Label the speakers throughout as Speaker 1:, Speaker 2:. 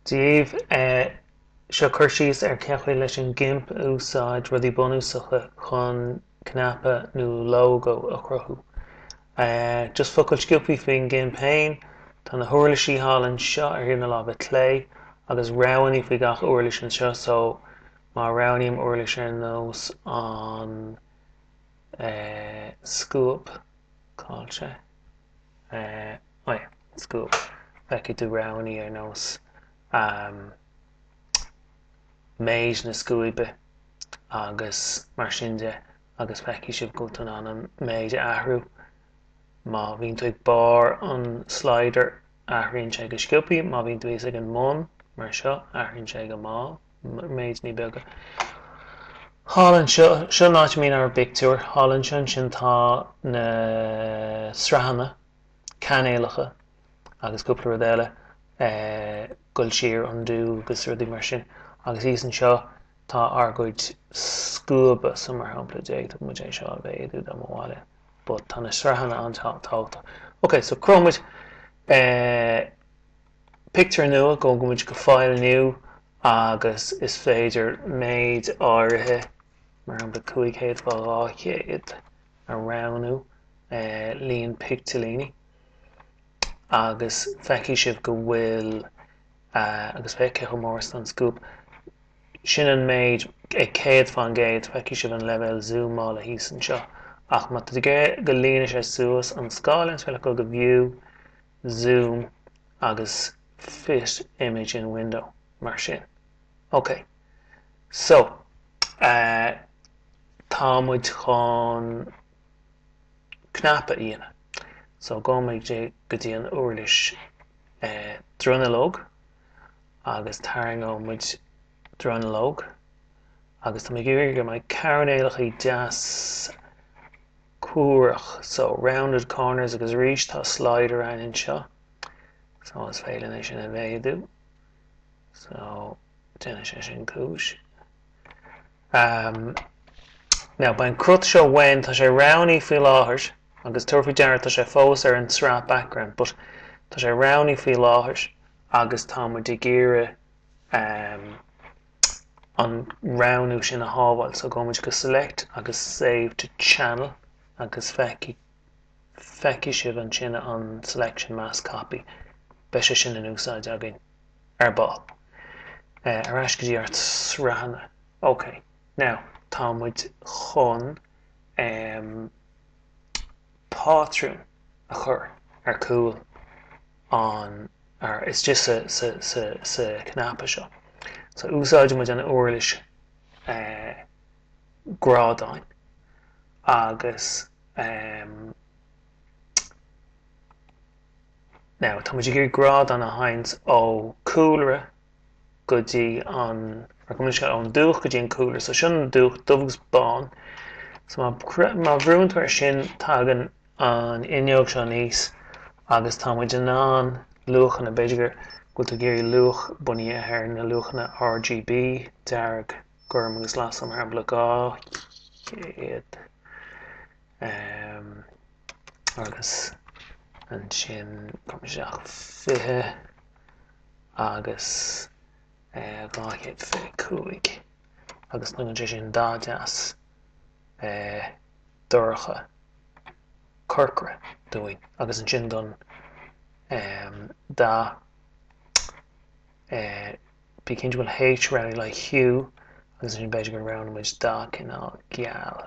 Speaker 1: díobh. Seo cur síos ar cén chaoi leis an gimp a úsáid rudaí bunúsacha chun cnaipe nó lógó a chruthú. Just focal sciobthaí faoin gimp féin. Tá na huirlisí thall anseo ar thaobh na láimhe clé agus roghannaí faoi gach uirlis anseo so má roghnaím uirlis ar nós an scuab cailce. Eh, eh. go bhfeicfidh tú roghanna ar nós méid na scuaibe agus mar sin de agus feicfidh sibh go bhfuil tú in ann an méid a athrú. Má bhíonn tú ag barr an slider athraíonn sé go sciobthaí, má bhíonn tú thíos ag an mbun, mar seo, athraíonn sé go mall, méideanna beaga. Thall anseo, seo an áit a mbíonn ár bpictiúir, thall anseo ansin tá na sraitheanna. cainéalacha agus cúpla rud eile goil siar undo agus rudaí mar sin agus thíos anseo tá ár gcuid scuaba so mar shampla d'fhéadfadh muid é seo a mhéadú dá mba mhaith linn but tá na sraitheanna an-tábhachtach. Ok so cruthóidh muid pictiúr nua gabhfaidh muid go file new agus is féidir méid áirithe mar shampla cúig chéad fá dhá chéad, a roghnú, líon picteilíní, agus feicfidh sibh go bhfuil, agus féach cé chomh mór is atá an scuab, sin an méid, ag céad fán gcéad, feicfidh sibh an leibhéal zúmála thíos anseo. Ach más maith leat go líonfaidh sé suas an scáileán is féidir leat dul go View, Zoom agus Fit Image in Window, mar sin. OK. So, eh, tá muid chun cnaipe a dhéanamh. So, gabhfaidh muid go dtí an uirlis eh, dronuilleog agus tarraingeoidh muid dronuilleog agus tá mé ag iarraidh go mbeidh coirnéalachaí deas cuarach. So, rounded corners agus arís tá slider againn anseo. So, is féidir leat é sin a mhéadú. So. Déanfaidh sé sin cúis. Now, beidh an cruth seo uainn, tá sé roghnaí faoi láthair, agus tabhair faoi deara tá sé fós ar an tsraith background, but tá sé roghnaithe faoi láthair agus tá muid ag iarraidh an roghnú sin a shábháil. So, gabhfaidh muid go Select agus Save to Channel agus feicfidh sibh ansin an selection mask copy. Beidh sé sin in úsáid againn. Ar ball. Ar ais go dtí ár sraitheanna. Ok. Now, tá muid chun em pátrún a chur ar chúl an or it's just sa sa sa sa cnaipe seo. So úsáidfidh muid an úirlis eh grádáin agus em. Now, tá muid ag iarraidh grádán a tharraingt ó cúlra go dtí an, or gabh mo leithscéal ón dúch go dtí an cúlra, so sin an dúch dubh agus bán. So má bhrúann tú ar sin tagann an fhuinneog seo aníos agus tá muid in ann luachanna, b'fhéidir go bhfuil tú ag iarraidh luach bunaithe ar na luachanna RGB, dearg, gorm agus glas so mar shampla 200. agus ansin cuirfidh mé isteach 20 agus 225 agus tugann sé sin dath deas dorcha corcra dúinn agus ansin don dath bí cinnte go bhfuil H roghnaithe le Hue agus ansin b'fhéidir go roghnóidh muid dath cineál geal.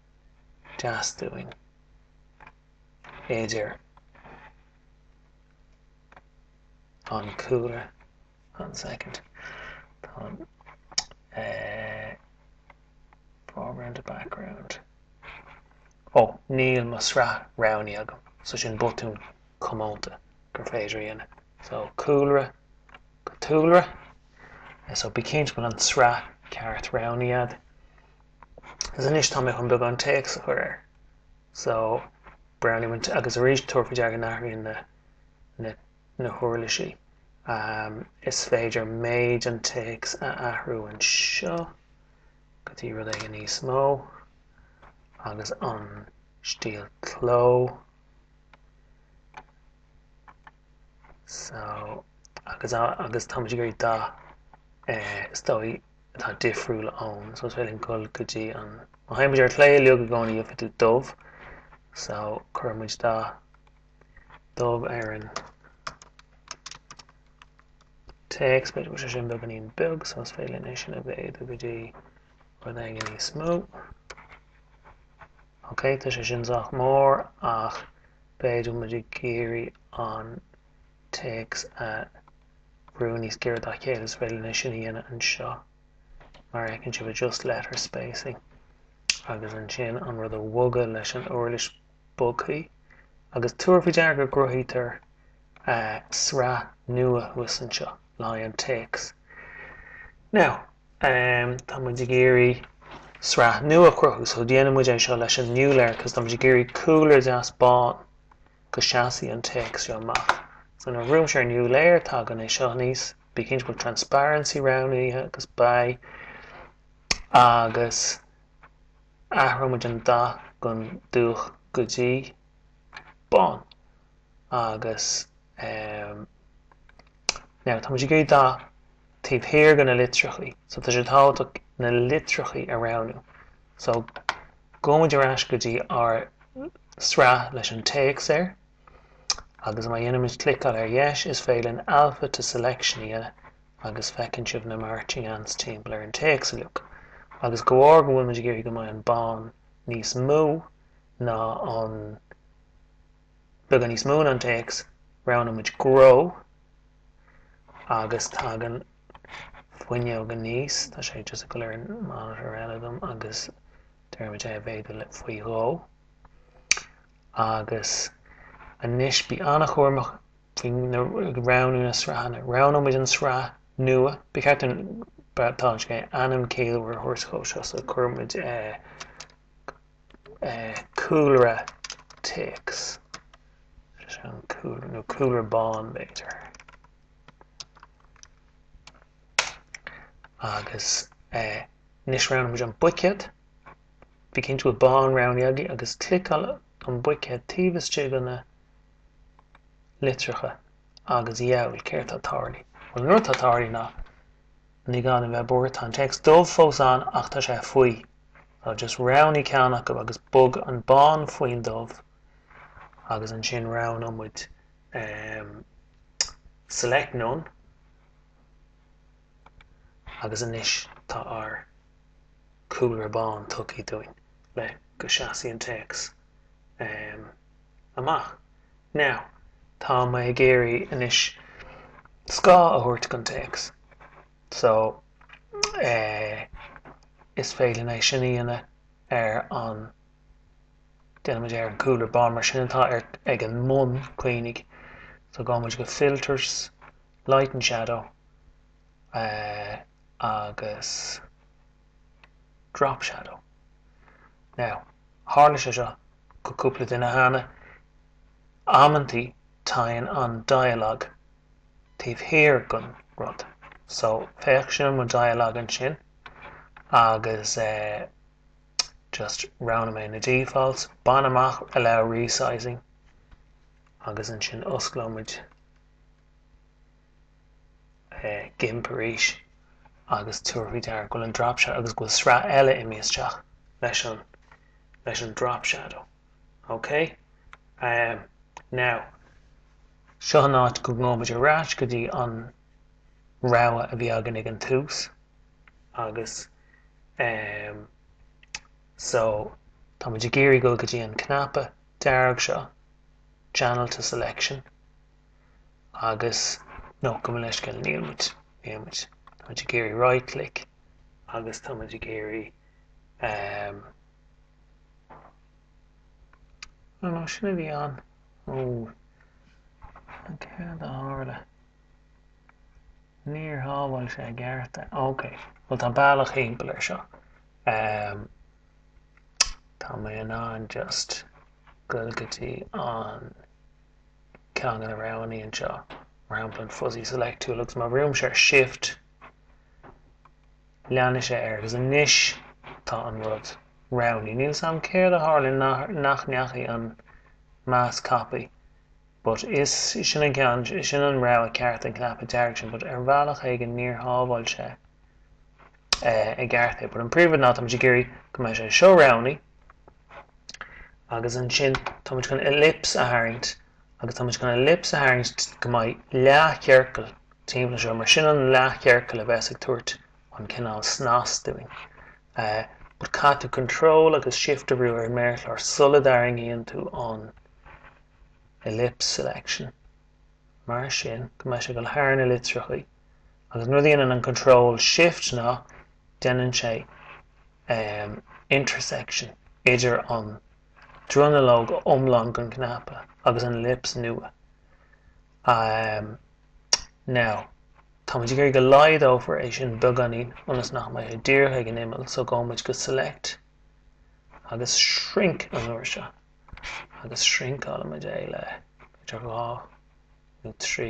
Speaker 1: deas dúinn. B'fhéidir an cúlra an second táim eh foreground to background ó níl mo shraith roghnaithe agam so sin botún comónta gur féidir a dhéanamh so cúlra go tulra so bí cinnte go bhfuil an sraith ceart roghnaithe agat Agus anois tá mé chun beagán téacs a chur air. So, roghnóidh muid agus arís tabhair faoi deara go n-athraíonn na na na huirlisí. Am, is féidir méid an téacs a athrú anseo go dtí rud éigin níos mó agus an stíl cló. So, agus a agus tá muid ag iarraidh dath eh is dóigh atá difriúil ón so is féidir linn dhul go dtí an má théann muid ar chlé uilig i gcónaí gheobhaidh tú dubh so cuirfidh muid dath dubh ar an téacs b'fhéidir go bhfuil sé sin beagáinín beag so is féidir linn é sin a mhéadú go dtí rud éigin níos mó ok tá sé sin sách mór ach b'fhéidir go bhfuil muid ag iarraidh an téacs a bhrú níos giorra dá chéile is féidir linn é sin a dhéanamh anseo mar fheiceann sibh adjust letter spacing agus ansin an rud a bhogadh leis an uirlis bogthaí agus tabhair faoi deara go gcruthaítear sraith nua thuas anseo le haghaidh an téacs. Now tá muid ag iarraidh sraith nua a chruthú so déanfaidh muid é seo leis an new layer cos tá muid ag iarraidh cúlra deas bán go seasfaidh an téacs seo amach. So nuair a bhrúimse ar new layer tagann é seo aníos, bí cinnte go bhfuil transparency roghnaithe agus beidh agus athróidh muid an dath ón dubh go dtí bán agus em now tá muid ag iarraidh dath taobh thiar de na litreachaí. So tá sé tábhachtach na litreachaí a roghnú. So gabhfaidh muid ar ais go dtí ár sraith leis an téacs air agus má dhéanaimid cliceáil ar dheis is féidir linn Alpha to Selection a dhéanamh agus feiceann sibh na Marching Ants timpeall ar an téacs uilig. Agus de bharr go bhfuil muid ag iarraidh go mbeidh an bán níos mó ná an Beagán níos mó ná an téacs, roghnóimid grow agus tagann fuinneog aníos, tá sé just ag gabháil ar an monitor eile agam agus deirimid é a mhéadú le faoi dhó. Agus anois bí an-chúramach faoi roghnú na sraitheanna. Roghnóimid an sraith nua, ba cheart dúinn, tá sé, ainm ciallmhar a thabhairt dhó seo so cuirimid. cúlra téacs nó cúlra bán b'fhéidir. Agus anois roghnóimid an buicéad. Bí cinnte go bhfuil bán roghnaithe agaibh agus cliceáil an buicéad taobh istigh de na litreacha agus hea, céard atá tarlaithe. Bhuel an rud atá tarlaithe ná ní gá a bheith buartha, tá an téacs dubh fós ann ach tá sé faoi. So just roghnaigh ceann acu agus bog an bán faoin dubh agus ansin roghnóidh muid ehm select none agus anois tá ár cúlra bán tugtha dúinn le go seasfaidh an téacs ehm amach. Now tá mé ag iarraidh anois scáth a thabhairt don téacs. So, eh, is féidir linn é sin a dhéanamh ar an, déanfaimid é ar an cúlra bán, mar sin atá ar, ag an mbun, cuimhnigh. So gabhann muid go Filters, Light and Shadow, eh, agus Drop Shadow. Now, tharla sé seo go cúpla duine cheana, amantaí tagann an dialogue taobh thiar den rud. So féach sin mo dialogue ansin agus eh just roghnaigh mé na defaults, bain amach allow resizing agus ansin osclóimid eh gimp arís agus tabhair faoi deara go bhfuil an drop shadow agus go bhfuil sraith eile imithe isteach leis an leis an drop shadow. Okay? Um, now, Seo an áit go ngabhfaimid ar ais go dtí an rogha a bhí againn ag an tús agus em so táimid ag iarraidh dul go dtí an cnaipe dearg seo Channel to Selection agus no gabh mo leithscéal níl muid níl muid táimid ag iarraidh right click agus táimid ag iarraidh em no no sin a bhí an Ó, céard a tharla? Níor shábháil sé i gceart. Ok, bhuel tá bealach thimpeall air seo. Tá mé in ann just a ghoil go dtí an ceann a roghnú anseo, mar shampla an fuzzy select tool, agus má bhrúim ar shift, Leanfaidh sé air, agus anois tá an rud roghnaithe. Níl 's a'm céard a tharla nach ndeachaigh an mask copy but is sin an ceann, sin an rogha ceart an cnaipe dearg sin but ar bhealach éigin níor shábháil sé i gceart é but an príomhrud ná tá muid ag iarraidh go mbeidh sé seo roghnaithe agus ansin tá muid chun ellipse a tharraingt Agus táimid chun ellipse a tharraingt go mbeidh leath-chiorcal timpeall anseo mar sin an leath-chiorcal a bheas ag tabhairt an cineál snas dúinn. But caithfidh tú control agus shift a bhrú ar an méarchlár sula dtarraingíonn tú an ellipse selection mar sin go mbeidh sé ag dul thar na litreachaí agus an rud a dhéanann an control shift ná déanann sé um, intersection idir an Dronuilleog iomlán den chnaipe agus an ellipse nua. Ahem. Now. Táimid ag iarraidh go laghdófar é sin beagáinín ionas nach mbeidh sé díreach ag an imeall so gabhfaimid go select agus shrink an uair seo agus shrinkeálfaimid é le b'fhéidir dhá nó trí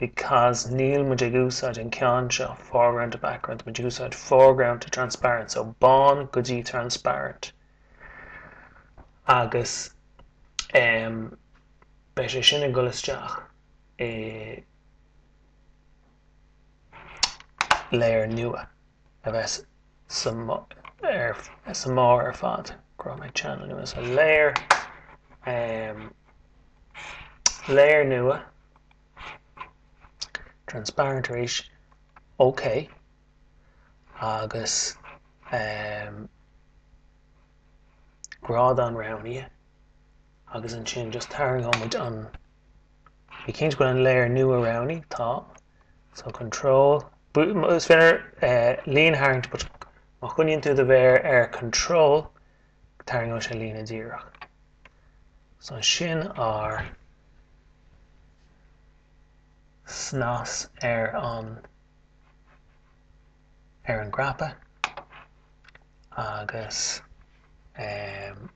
Speaker 1: because níl muid ag úsáid an ceann seo foreground to background muid ag úsáid foreground to transparent so bán go dtí transparent agus em beidh sé sin ag dul isteach i layer nua a bheas sa mbarr ar fad. Cruthóidh mé ceann eile nua, so layer. Layer nua transparent arís ok agus grádán roghnaithe agus ansin just tarraingeoimid an bí cinnte go bhfuil an layer nua roghnaithe tá So control, is féidir líne a tharraingt but má choinníonn tú do mhéar ar control tarraingeoidh sé líne díreach. So sin ár snas ar an ar an gcnaipe agus um,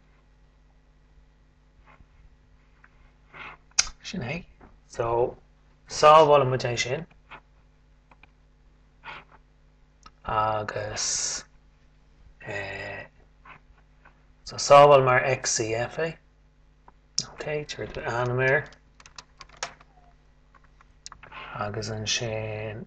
Speaker 1: Sin é. So, sábhálfaidh muid é sin. Agus... Eh, so, sábháil mar XCF é. Ok, tabhair d'ainm air. Agus ansin...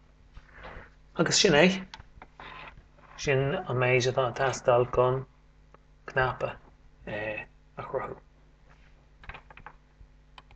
Speaker 1: Agus sin é. Sin an méid atá ag teastáil chun cnaipe a chruthú.